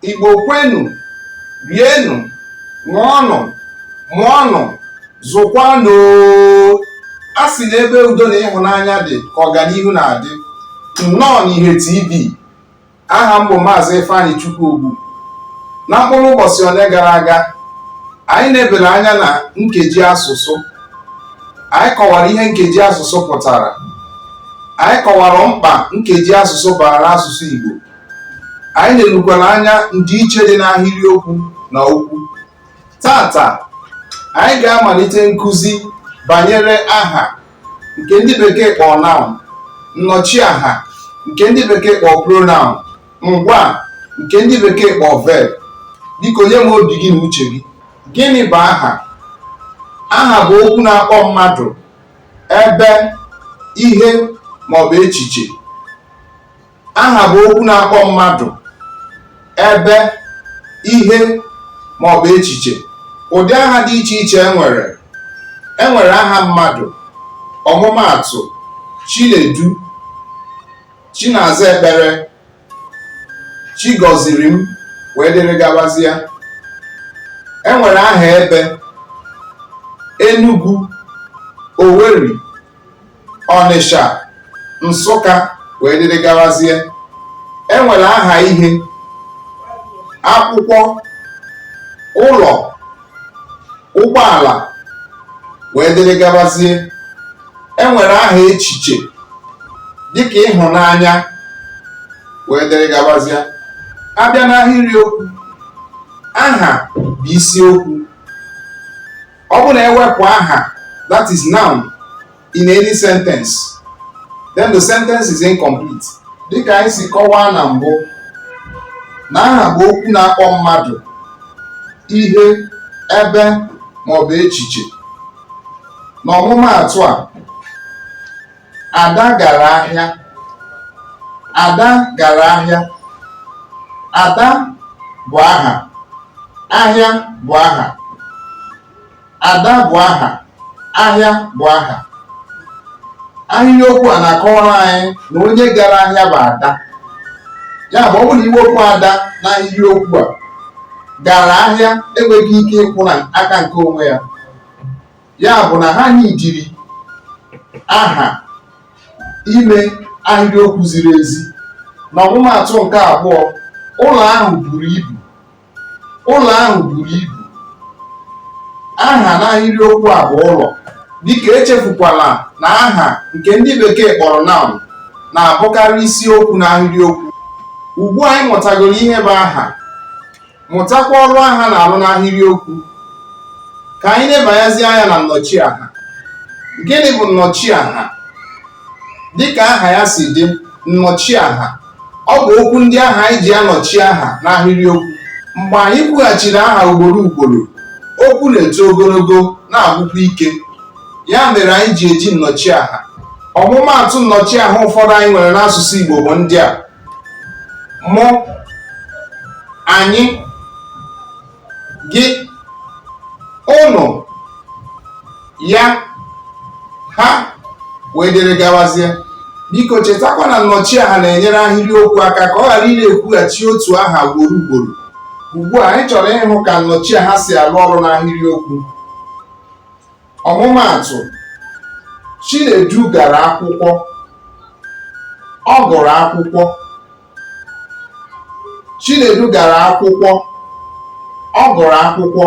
Igbo kwenu, rienụ, ṅụọnụ, mụọnụ, zụkwanụ oo! A sị na ebe udo na ịhụnanya dị ka ọganihu na-adị. Nnọọ n'Ihe TV. Aha m bụ Maazị Ifeanyị Chukwuogbu. Na mkpụrụ ụbọchị ole gara aga, anyị lebara anya na nkeji asụsụ. Anyị kọwara ihe nkeji asụsụ pụtara. Anyị kọwara mkpa nkeji asụsụ baara asụsụ Igbo. anyị lerukwara anya ndịiche dị n'ahịrịokwu na okwu taata anyị ga-amalite nkụzi banyere aha nke ndị bekee kpọọ noun nnọchiaha nke ndị bekee kpọọ pronoun ngwa nke ndị bekee kpọọ verb biko nye m obi gị na uche gị gịnị bụ aha aha bụ okwu na-akpọ mmadụ ebe ihe maọbụ echiche aha bụ okwu na-akpọ mmadụ ebe ihe ma ọ bụ echiche ụdị aha dị iche iche enwere enwere aha mmadụ ọmụmaatụ chinedu chinazaekpere chigọzirim wee dịrị gabazia enwere aha ebe Enugu Owerri Ọnịsha Nsụka wee dịrị gawazie enwere aha ihe akwụkwọ ụlọ ụgbọala wee dịrị gabazie enwere aha echiche dịka ịhụnanya wee dịrị gabazie abịa n'ahịrị okwu aha bụ isiokwu ọ bụrụ na ewepụ aha that is noun in any sentence then the sentence is incomplete dịka anyị si kọwaa na mbụ na aha bụ okwu na-akpọ mmadụ ihe ebe ma ọ bụ echiche n'ọmụmaatụ a Ada gara ahịa. Ada gara ahịa. Ada bụ aha. Ahịa bụ aha. Ada bụ aha. Ahịa bụ aha. Ahịrịokwu a na-akọwara anyị na onye gara ahịa bụ Ada. Ya bụ ọ bụrụ na iwepụ Ada na ahịrịokwu a, gara ahịa enweghị ike ịkwụ na aka nke onwe ya. ya bụ na ha anyị jiri aha ime ahịrịokwu ziri ezi na ọmụmaatụ nke abụọ ụlọ ahụ buru ibu ụlọ ahụ buru ibu aha n'ahịrịokwu a bụ ụlọ biko echefukwala na aha nke ndị bekee kpọrọ noun na-abụkarị isiokwu n'ahịrịokwu ugbu a anyị mụtagoro ihe bụ aha mụtakwa ọrụ aha na-arụ n'ahịrịokwu ka anyị nebanyazi anya na nnọchiaha gịnị bụ nnọchiaha dịka aha ya si dị nnọchiaha ọ bụ okwu ndị ahụ anyị ji anọchi aha n'ahịrịokwu mgbe anyị kwughachiri aha ugboro ugboro okwu na-eto ogologo na-agwụkwa ike ya mere anyị ji eji nnọchiaha ọmụmaatụ nnọchiaha ụfọdụ anyị nwere n'asụsụ Igbo bụ ndị a mụ anyị gị ụnụ ya ha wee dịrị gawazie biko chetakwa na nnọchiaha na-enyere ahịrịokwu aka ka ọ ghara ị na-ekwughachi otu aha ugboro ugboro ugbu a anyị chọrọ ịhụ ka nnọchiaha si arụ ọrụ n'ahịrịokwu ọmụmaatụ Chinedu gara akwụkwọ ọ gụrụ akwụkwọ Chinedu gara akwụkwọ ọ gụrụ akwụkwọ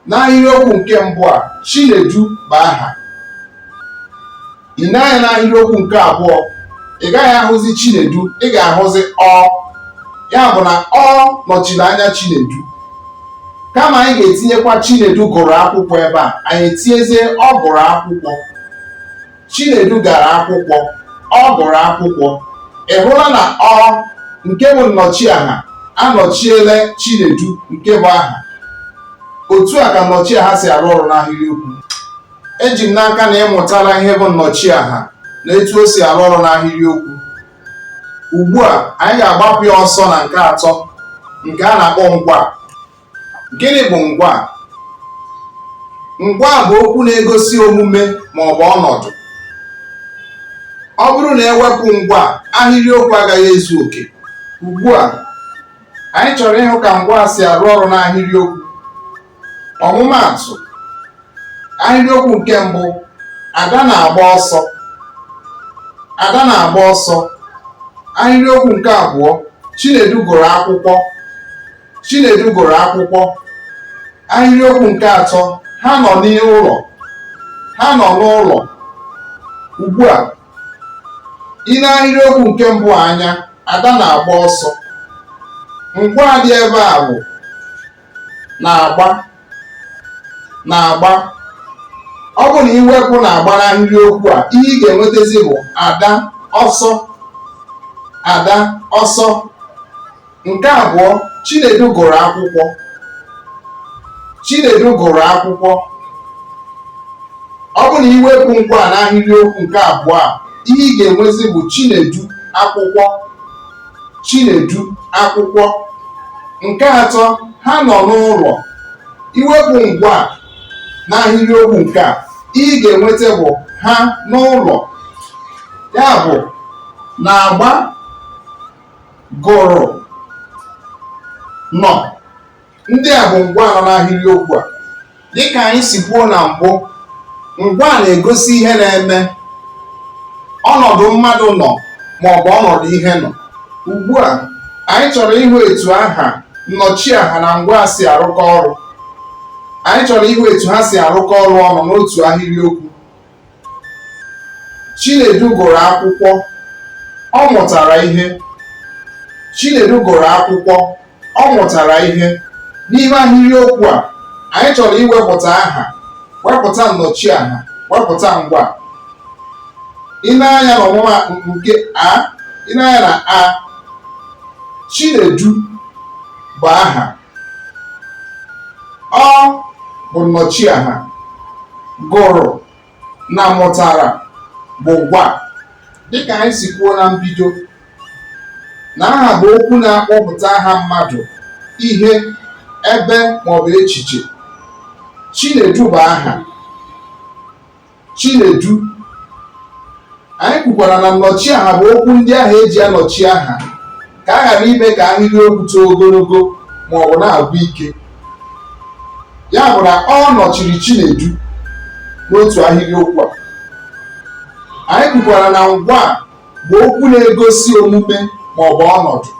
n'ahịrịokwu nke mbụ a Chinedu bụ aha i nee anya n'ahịrịokwu nke abụọ ị gaghị ahụzi Chinedu ị ga-ahụzi ọ ya bụ na ọ nọchiri anya Chinedu kama anyị ga-etinyekwa Chinedu gụrụ akwụkwọ ebe a anyị etinyezie ọ gụrụ akwụkwọ Chinedu gara akwụkwọ ọ gụrụ akwụkwọ ị hụla na ọ nke bụ nnọchiaha anọchiela Chinedu nke bụ aha otu a ka nnọchiaha si arụ ọrụ n'ahịrịokwu eji m n'aka na ị mụtala ihe bụ nnọchiaha na etu o si arụ ọrụ n'ahịrịokwu ugbu a anyị ga-agbapụ ya ọsọ na nke atọ nke a na-akpọ ngwaa gịnị bụ ngwaa ngwaa bụ okwu na-egosi omume ma ọ bụ ọnọdụ ọ bụrụ na e wepụ ngwaa ahịrịokwu agaghị ezu oke ugbu a anyị chọrọ ịhụ ka ngwaa si arụ ọrụ n'ahịrịokwu ọmụmaatụ ahịrịokwu nke mbụ ada na-agba ọsọ ada na-agba ọsọ ahịrịokwu nke abụọ chinedu gụrụ akwụkwọ chinedu gụrụ akwụkwọ ahịrịokwu nke atọ ha nọ n'ụlọ ha nọ n'ụlọ ugbu a i nee ahịrịokwu nke mbụ anya ada na-agba ọsọ ngwaa dị ebe a bụ na-agba na-agba ọ bụ na i wepụ na-agba n'ahịrịokwu a ihe ị ga-enwetazi bụ Ada ọsọ Ada ọsọ nke abụọ Chinedu gụrụ akwụkwọ Chinedu gụrụ akwụkwọ ọ bụ na i wepụ ngwaa n'ahịrịokwu nke abụọ a ihe ị ga-enwezi bụ Chinedu akwụkwọ Chinedu akwụkwọ. Nke atọ, ha nọ n'ụlọ. I wepụ ngwaa n'ahịrịokwu nke a, ihe ị ga-enweta bụ ha n'ụlọ. Ya bụ na-agba gụrụ nọ. ndị a bụ ngwaa nọ n'ahịrịokwu a dịka anyị si kwuo na mbụ ngwaa na-egosi ihe na-eme ọnọdụ mmadụ nọ ma ọ bụ ọnọdụ ihe nọ ugbu a anyị chọrọ ịhụ etu aha nnọchiaha na ngwaa si arụkọ ọrụ anyị chọrọ ịhụ etu ha si arụkọ ọrụ ọnụ n'otu ahịrịokwu Chinedu gụrụ akwụkwọ, ọ mụtara ihe. Chinedu gụrụ akwụkwọ, ọ mụtara ihe. N'ime ahịrịokwu a, anyị chọrọ iwepụta aha, wepụta nnọchiaha, wepụta ngwaa. I nee anya n'ọmụma nke a, i nee anya na a, Chinedu bụ aha. ọ bụ nnọchiaha gụrụ na mụtara bụ ngwaa dịka anyị si kwuo na mbido na aha bụ okwu na-akpọpụta aha mmadụ ihe ebe maọbụ echiche Chinedu bụ aha Chinedu anyị kwukwara na nnọchiaha bụ okwu ndị ahụ e ji anọchi aha ka a ghara ime ka ahịrịokwu too ogologo ma ọ bụ na-agwụ ike ya bụ na ọ nọchiri Chinedu n'otu ahịrịokwu a anyị kwukwara na ngwaa bụ okwu na-egosi omume ma ọ bụ ọnọdụ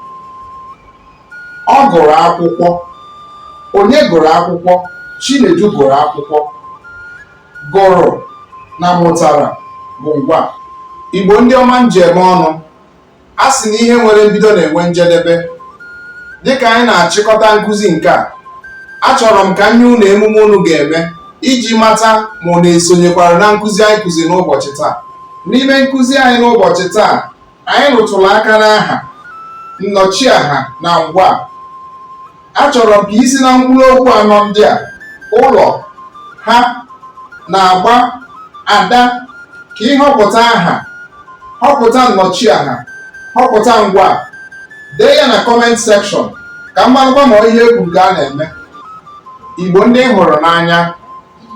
ọ gụrụ akwụkwọ onye gụrụ akwụkwọ Chinedu gụrụ akwụkwọ gụrụ na mụtara bụ ngwaa Igbo ndị ọma m ji eme ọnụ a sị na ihe nwere mbido na-enwe njedebe dịka anyị na-achịkọta nkụzi nke a achọrọ m ka nye unu emume unu ga-eme iji mata ma unu esonyekwara na nkụzi anyị kụzi n'ụbọchị taa n'ime nkụzi anyị n'ụbọchị taa anyị rụtụrụ aka n'aha nnọchiaha na ngwa achọrọ m ka i si na mkpụrụ okwu anọ ndị a ụlọ ha na-agba ada ka ị họpụta aha họpụta nnọchiaha họpụta ngwa dee ya na comment section ka m marakwa ma ihe e kwuru ka a na-eme igbo ndị m hụrụ n'anya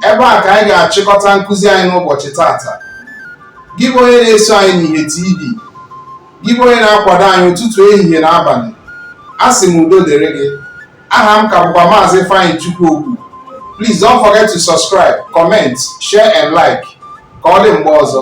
ebe a ka anyị ga-achịkọta nkụzi anyị n'ụbọchị tata gị bụ onye na-eso anyị n'ihe tv gị bụ onye na-akwado anyị ụtụtụ ehihie na abalị asị m udo dịrị gị aha m ka bụkwa maazị Ifeanyichukwu Ogbu please don't forget to subscribe comment share and like ka ọ dị mgbe ọzọ